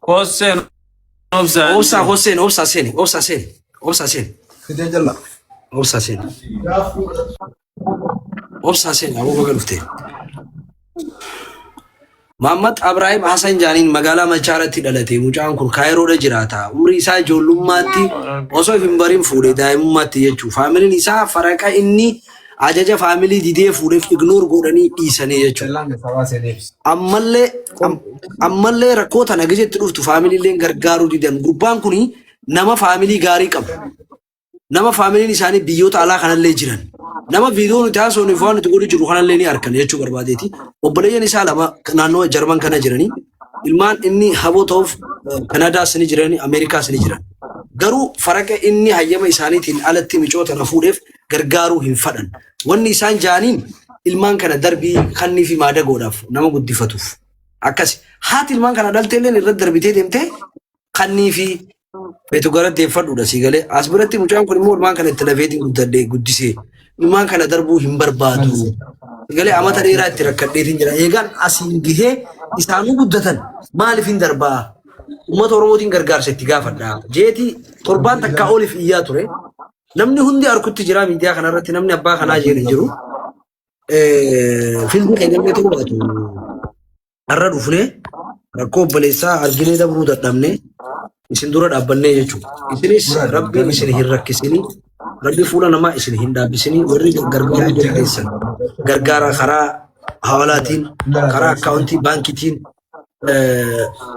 Kosseen obsaan. Obsaa koo seeni, obsaa seeni, obsaa seeni, obsaa seeni, Fidee jalla. obsaa seeni. Obsaa seeni, aboo baga dhuftee. Maammat Abraahim Hasan Jaaniin magaalaa Machaaratti dhalate mucaan kun Kaayiroodha jiraata. Umrii isaa ijoollummaatti osoo hin bariin fuudhe daa'imummaatti jechuudha. Faamiliin isaa faraqa inni ajaja faamilii didee fuudheef ignoor godhanii dhiisanii jechuudha. Ammallee am- ammallee rakkoo tana gizetti dhuftu faamiliilleen gargaaruu didan gurbaan kun nama faamilii gaarii qabu. Nama faamiliin isaanii biyyoota alaa kanallee jiran. Nama viidiyoo nuti haasofnuuf waan nuti godhu jiru kanallee ni arkan jechuu barbaadeeti. Obboleeyyan isaa lama naannoo Jarman kana jiranii ilmaan inni haboo ta'uuf eh, Kanaadaas ni jiran, Ameerikaas ni jiran. Garuu faraqa inni hayyama isaaniitiin alatti micoota na fuudheef gargaaruu hin fadhan. Wanni isaan jaaniin ilmaan kana darbii kannii fi maadagoodhaaf nama guddifatuuf. Akkasi. Haati ilmaan kana dhaltee illee irra darbitee deemtee kannii fi beetu gara deeffadhuudha sii galee. As biratti mucaan kun immoo ilmaan kana itti lafeetiin guddadhee guddisee ilmaan kana darbuu hin barbaadu. Sii Galee amata dheeraa itti rakkadheetiin jira. Eegaan asiin gahee isaanuu guddatan maaliif hin darbaa? Uummata Oromootiin gargaarsa itti gaafadha. Jeetii torbaan takkaa oliif iyyaa ture. Namni hundi arkutti jira miidiyaa kanarratti namni abbaa kanaa jedhu jiru. Filmi keenya illee ta'uu baatu har'a dhufnee rakkoo obboleessaa arginee dabruu dadhabnee isin dura dhaabbannee jechuudha. Isinis rabbiin isin hin rakkisinii rabbi fuula namaa isin hin dhaabbisinii warri gargaaruu dandeessan gargaara karaa hawalaatiin karaa akkaawuntii baankiitiin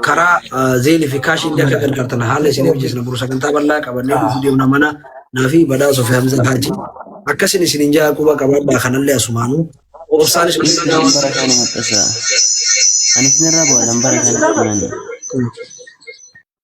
karaa zeelii fi kaashii illee akka gargaartan haala isin hojjeesna buru sagantaa bal'aa qabannee dhufuu deemna mana naa fi badhaasoo fi hamza haaji akkasin isin hin jaa quba qabaadhaa kanallee asumaanuu obsaan isin Anis bara kana maxxasa. Anis narraa bu'aadhaan bara kana kanani.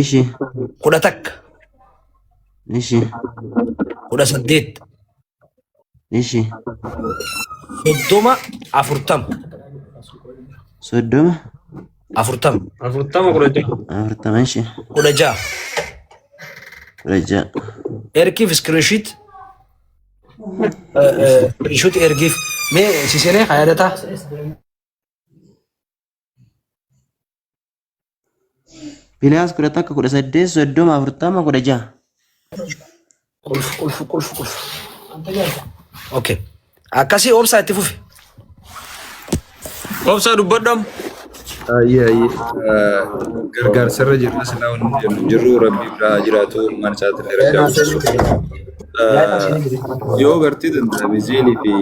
Ishi. kudha takka Ishi. kudha saddeet Ishi. soddoma afurtama Soddoma. afurtama Afurtama kudha ja'a. Afurtama. Ishi. kudha ja'a Kudha ja'a. ergiif iskirinshiit iskirinshiit ergiif mee sisenee haa yaadataa Pilaas kudha takka kudha saddeet soddoma afurtama kudha jaha. Qulf qulf qulf qulf. Okay. Akkasii obsaa itti fufi. Obsaa dubbadham. Ayyee ayyee gargaarsarra jirra silaa wanni jennu jirru rabbii biraa haa jiraatu ilmaan isaatiillee rabbi haa guddisu. Yoo gartee danda'ame zeelii fi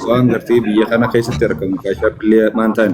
waan gartee biyya kana keessatti argamu kaashaa billee maan ta'an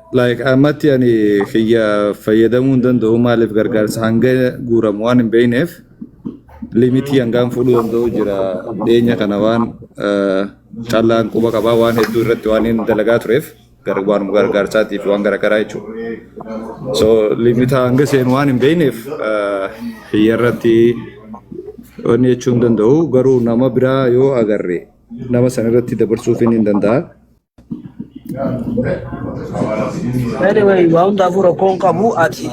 like ammatti ani kiyya fayyadamuu hin danda'u maaliif gargaarsa hanga guuramu waan hin beekneef limitii hangaan fuudhuu danda'u jira dhiyeenya kana waan eh, callaan quba qabaa waan hedduu irratti waan hin dalagaa tureef gar- waanuma gargaarsaatiif waan garaagaraa jechuudha. So limitaa hanga seenu waan hin beekneef eh, kiyya irratti wanni jechuu hin danda'u garuu nama biraa yoo agarre nama san irratti dabarsuuf hin danda'a. Anyway, waa hundaafuu rakkoon qabu ati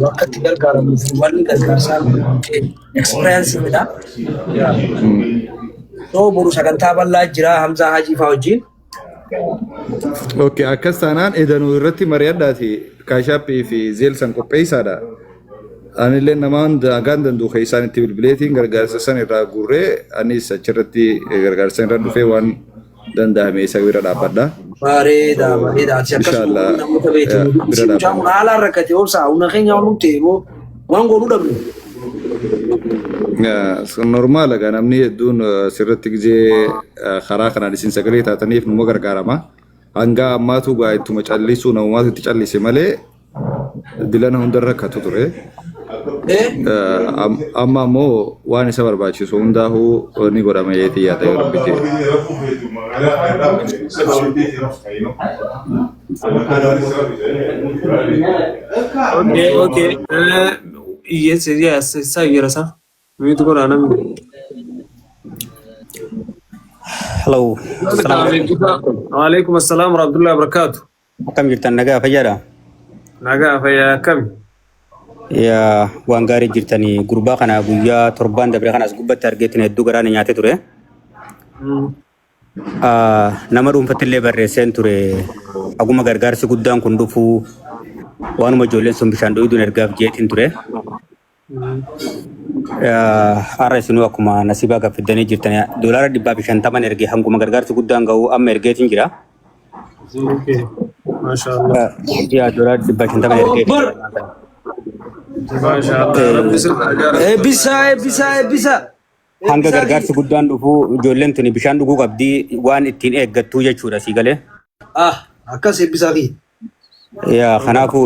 bakka itti gargaaramuuf wanni gargaarsaa kee experienceedha. Yoo boru sagantaa bal'aa jira Hamzaa Hajii fa'aa wajjin. Okay, akkas taanaan edanuu irratti mari'adhaati kaashaappii fi zeelsan qopheessaadha. Anillee nama hunda hagaan danda'u keessaan itti bilbileetiin gargaarsa san irraa guurree anis achirratti gargaarsa irra dhufee waan danda'ame isa bira dhaabbadha. Bareeda bareeda ati akkasuma Inshallah, namoota eh, beektu bira mucaan kun dhaabbanna. haalaan rakkate obsaa humna keenya waan nutti eeboo waan goonu dhabne. Eh, sun normaal egaa namni hedduun eh, sirratti gizee eh, karaa kanaan isin sagalee taataniif numa gargaarama. Hanga ammaatu gaa ittuma callisuu namumaatu itti callise malee dilana hunda rakkatu ture. Amma ammoo waan isa barbaachisu hundaahuu ni godhama jeetii yaada yoo rabbi jee. Okay, okay. Uh, yes, yes, it's a year, sir. We to go on. Hello. Assalamu alaikum. Alaikum assalam wa rahmatullahi wa barakatuh. Akkam jirtan nagaa fayyaadha? Nagaa fayyaa akkami? Yaa waan gaarii jirtanii gurbaa kana guyyaa torbaan dabre kanas gubbatti argeetti na hedduu garaa na nyaatee ture. Mm. Ah, Nama dhuunfatti illee barreesseen ture. Haguma gargaarsi guddaan kun dhufu waanuma ijoolleen sun bishaan dhugduun ergaaf jeetiin ture. Har'a isinuu akkuma nasiibaa gaffiddanii jirtan doolaara dhibbaa fi shantaman erge hanguma gargaarsi guddaan ga'u amma ergeetiin jira. Okay. Mashallah. Yaa doolaara dhibbaa fi shantaman ergee. Mashallah. Rabbi sirra gaara. Eebbisa eebbisa eebbisa. Hanga gargaarsi guddaan dhufu ijoolleen tuni bishaan dhuguu qabdi waan ittiin eeggattuu jechuudha sii galee. Ah akkas eebbisaa fi. Yaa kanaafuu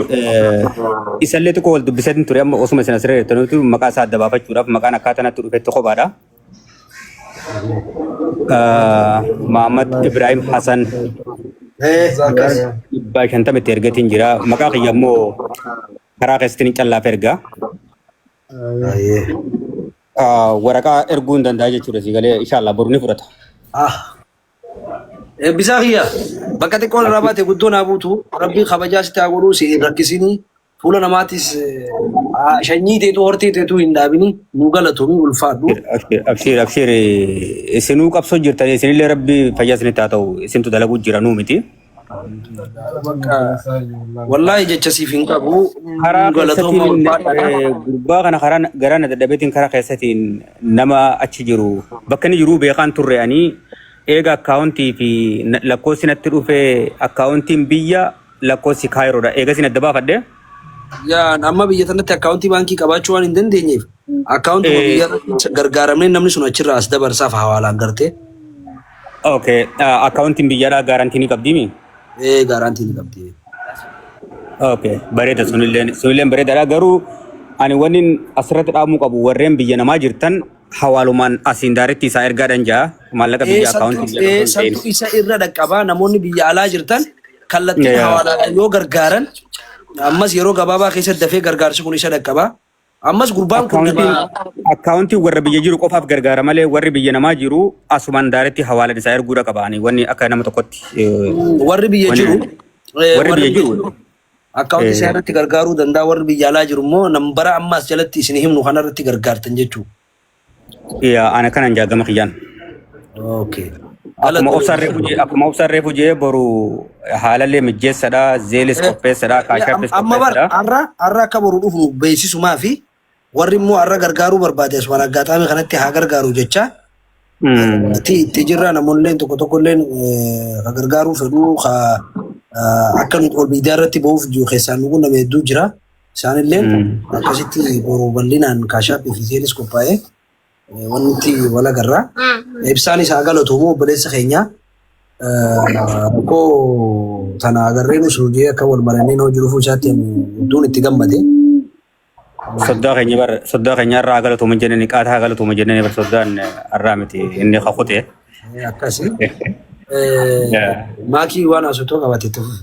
isallee tokko wal dubbiseetiin ture amma osuma isin asirra jirtaniitu maqaa isaa adda baafachuudhaaf maqaan akkaataa natti dhufetti kophaadha. Mahammad Ibrahim Hassan dhibbaa shantama itti ergatiin jira. Maqaa kiyya immoo karaa keessatti callaaf erga. Waraqaa erguu hin danda'a jechuudha si galee inshaallah boru ni fudhata. Eebbisaa kiyya bakka xiqqoon irraa baate guddoo naa buutu rabbii kabajaa sitti haa godhuu si hin rakkisinii fuula namaatis shanyii teetuu hortee teetuu hin dhaabini nuu galatoomii ulfaadhu. Abshiir abshiir isinuu qabsoo jirtan isinillee rabbi fayyaa isinitti haa ta'u isintu dalaguu jira nuu miti. Bakka wallaahi jecha siif hin qabu. karaa Hedduu galatoomaa keessatiin ulfaadha. eh, gurbaa kana karaa na- garaa na dadhabeetiin karaa keessatiin nama achi jiru bakka inni jiruu beekaan turre ani eega akkaawuntii fi na- lakkoofsi natti dhufe akkaawuntiin biyya lakkoofsi kaayiroodha eegas na dabaafadhe. Yaan amma biyya sanatti akkaawuntii baankii qabaachuu waan hin dandeenyeef akkaawuntuma Eh. biyya irratti gargaaramnee namni sun achirraa as dabarsaaf hawaalaan gartee Okay. Uh, akkaawuntiin biyyaadhaa gaarantii ni qabdiimi? ee gaaraantii ni qabdi. Okay. Bareeda sunilleen sunilleen bareedaadha garuu ani wanni asirratti dhaamuu qabu warreen biyya namaa jirtan hawaalumaan asiin daaritti isaa ergaadhan jaa maallaqa biyya akkaawuntii biyya Ee tokko hin ta'in. santu isa irra dhaqqabaa namoonni biyya alaa jirtan kallattiin Yeah. hawaalaadhaan yoo gargaaran ammas yeroo gabaabaa keessatti dafee gargaarsi kun isa dhaqqaba. Ammas gurbaan kun Akkaawuntiin nama akkaawuntiin warra biyya jiru qofaaf gargaara malee warri biyya namaa jiru asumaan daaretti hawaalan isaa erguu dhaqabaani wanni akka nama tokkotti. eh, warri biyya Wani- jiru eh, warri biyya jiru. akkaawuntii Eh. isaa irratti gargaaruu danda'a warri biyya alaa jiru immoo nambara ammaas jalatti isin himnu kanarratti gargaartan jechuudha. Yaa ana kanan jaa gama kiyyaan. Okay. Akkuma Galatoomi. obsaan reefu jee akkuma obsaan reefu jee boru haalallee mijjeessadha zeelis Eh, qopheessadha Eh, am- kaashappis Amma bar qopheessadha. har'a har'a akka boru dhufu beeksisumaa fi warri immoo har'a gargaaruu barbaade as waraaggaataame kanatti haa gargaaru jecha Mm. itti itti jirra namoonni tokko tokko illee ka gargaaruu fedhuu ka eh, akka nuti ol miidiyaa irratti ba'uuf jiru keessaan nu qunname hedduu jira. Isaan illee akkasitti boru bal'inaan kaashaappii fi zeenis qophaa'ee eh, wanti wal agarraa. Ibsaan isaa galatoomu obboleessa keenya eh, rakkoo tana agarree nu suudee akka wal marannee noo jiruuf isaatti ani hedduun itti gammade. Soddaa keenya bar soddaa keenya irraa galatoomu jennee qaataa galatoomu jennee bar soddaan irraa miti inni kakute. Eh, Akkasi. Eh, Yeah. Maakii waan asutoo qabatetti fufu.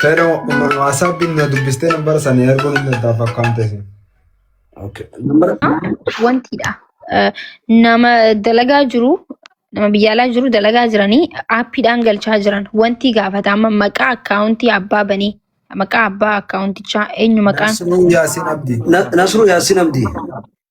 Fedha waasaappiin na dubbistee nambara sana erguun hin daddaaf akkaan teessin. Wantidha. Eh, Nama dalagaa jiru nama biyya alaa jiru dalagaa jiranii aappiidhaan galchaa jiran wanti gaafatama maqaa akkaawuntii abbaa banee maqaa abbaa akkaawuntichaa eenyu maqaan Nasruu Yaasiin Abdii. Nasruu Yaasiin Abdii.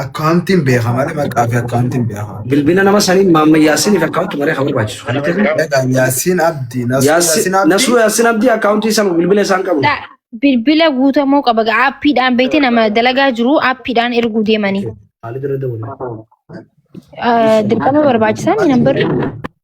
Akkaawuntiin beeka malee maqaa fi akkaawuntiin beeka. Bilbila nama saniin Maamma Yaasiiniif akkaawunti maree kan barbaachisu. Kan itti argamu. Egaa Yaasiin Abdii, Nasuu Yaasiin Abdii. Nasuu Yaasiin Abdii akkaawuntii sana bilbila isaan qabu. Da- Bilbila guutamuu qaba. Ga- Aappiidhaan beekte nama dalagaa jiru aappiidhaan erguu deemanii. Haalli dura dawwanii. Ah, Dirqama barbaachisaa inni nambarri.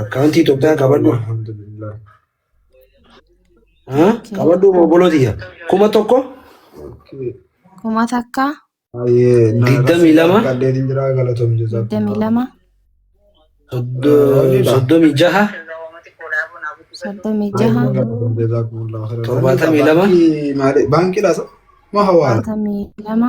Akkaawuntii Itoophiyaa qabadhu. Haa? Qabadhu obbolootiyya. Kuma tokko Kuma takka digdamii lama digdamii lama soddo- soddomii jaha soddomii jaha torbaatamii lama Baankii laasa ma hawaala. torbaatamii lama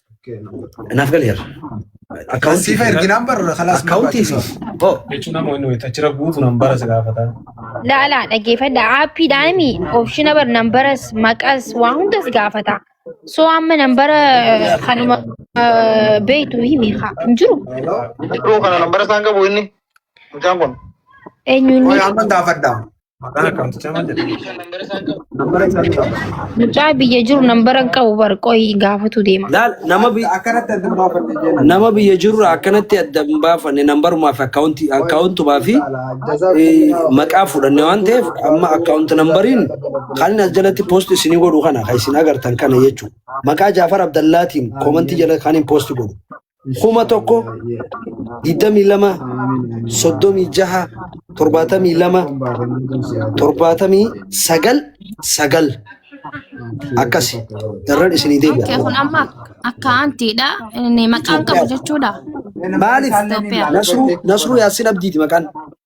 Naaf galeera. Akkaawuntii Siifa erginaan barra kalaas akkaawuntii siif. Hoo. jechuun amma inni wayita achirra guutu nan bara si gaafata. Laala dhaggeeffadha aappiidhaan opshina bar nambaras maqas waa hundas gaafata. So amma nambara kanuma eh, beektu himi haa hin jiru. Dhiroo kana nambara isaan qabu inni mucaan kun. Eenyu inni Amma gaafadha. Maqaan akkaawuntichaa maal jedhama? Nambara isaa ni qaba. Mucaa biyya jiru nambara hin qabu bar qoyi gaafatu deema. Laal nama bi- Akkanatti adda baafadhe jenna. nama biyya jirurra akkanatti adda hin baafanne nambarumaa fi akkaawunti akkaawuntumaa fi eh, maqaa fudhanne waan ta'eef amma akkaawunti nambariin kan inni as jalatti poost isinii godhu kana kan isin agartan kana jechuudha. Maqaa Jaafar Abdallaatiin koomantii jala kan hin poost godhu. kuma tokko digdamii lama soddomii jaha torbaatamii lama torbaatamii sagal sagal akkasi irran isinii Okkee deebi'a. kun amma akkaantiidha. Inni maqaan qabu jechuudha. Maaliif Itoophiyaa. Nasruu Nasruu Yaassin Abdiiti maqaan.